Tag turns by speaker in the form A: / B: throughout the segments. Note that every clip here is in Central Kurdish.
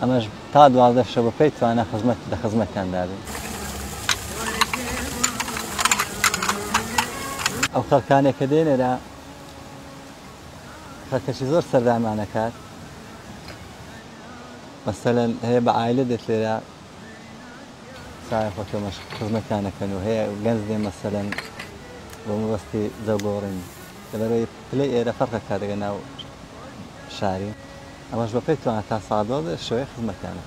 A: ئەمەش تا دوازدە شەو بەپێی توانا خزمەت لە خزمەتتاندا بێ. ئەو خەڵکانێ کە دێنێ لە خەکەکی زۆر سەردانمانەکات مەسەلەن هەیە بە ئایلە دێت لێرە سایە خۆتۆمەش خزمەتانەکەن و هەیە گەنج دێ مەسەلەن بۆ مەبەستی زەوگۆڕین لەبەرەوەی پلەی ئێرە فەرقە کاتەکە ناو شاری ئەمەش بە پێی توانا تا ساڵ دوازدە لە شێوەی خزمەتیانە.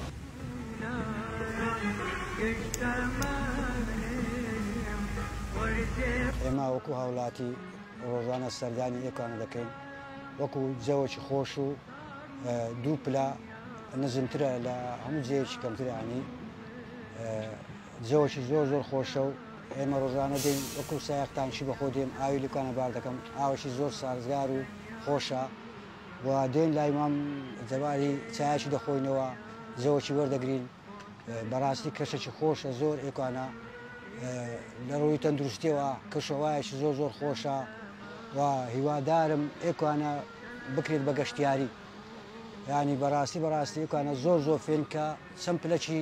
B: ئێمە وەکو هاوڵاتی ڕۆژانە سەردانی ئێ کانە دەکەین وەکو جەوەکی خۆش و دوو پلە نزمترە لە هەموو جێیەکی کەمترە عنی جەوەکی زۆر زۆر خۆشە و ئێمە ڕۆژانە دێن وەکو سایەق تانکی بەخۆ دێم ئاوی لکانە بار دەکەم ئاوەکی زۆر سازگار و خۆشە و دێن لای مام جەباری چایەکی دەخۆینەوە جەوەکی وەردەگرین بەڕاستی کەشەکی خۆشە زۆر ئێکوانە لە ڕووی تەندروستیەوە کەشەوایەکی زۆر زۆر خۆشە و هیوادارم ئێکوانە بکرێت بە گەشتیاری ینی بەڕاستی بەڕاستی ئێکوانە زۆر زۆر فێنکە چەم پلەکی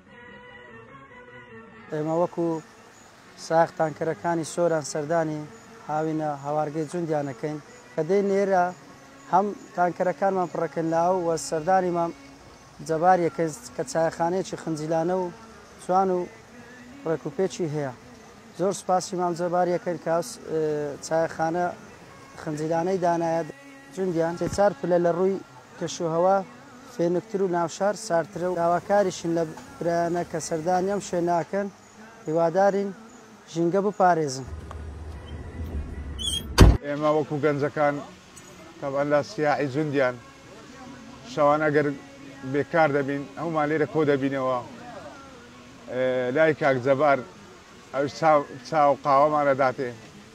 C: ئێمە وەکو ساق تانکەرەکانی سۆران سەردانی هاوینە هاوارگەی جوندیان نەکەین کە دەی نێرە هەم تانکەرەکانمان پڕەکەن لاو و سەردانی مام جەبار یەکەین کە چایەخانەیەکی خنجیلانە و جوان و ڕێکوپێکی هەیە زۆر سپاسی مام جەبار یەکەن کە چایەخانە خنجیلانەی دانایە جوندیان تێچار پلە لە ڕووی کەشوهەوا فێنکتر و ناوشار ساردترە و داواکاریشین لە برایانە کە سەردانی ئەم شوێنە ئەکەن هیوادارین ژینگە بپارێزن.
D: ئێمە وەکو گەنجەکان تەبعەن لە سیاحی جوندیان شەوانە گەر بێکار دەبین هەموومان لێرە کۆ دەبینەوە لای کاک جەبار ئەوش چا و قاوەمان ئەداتێ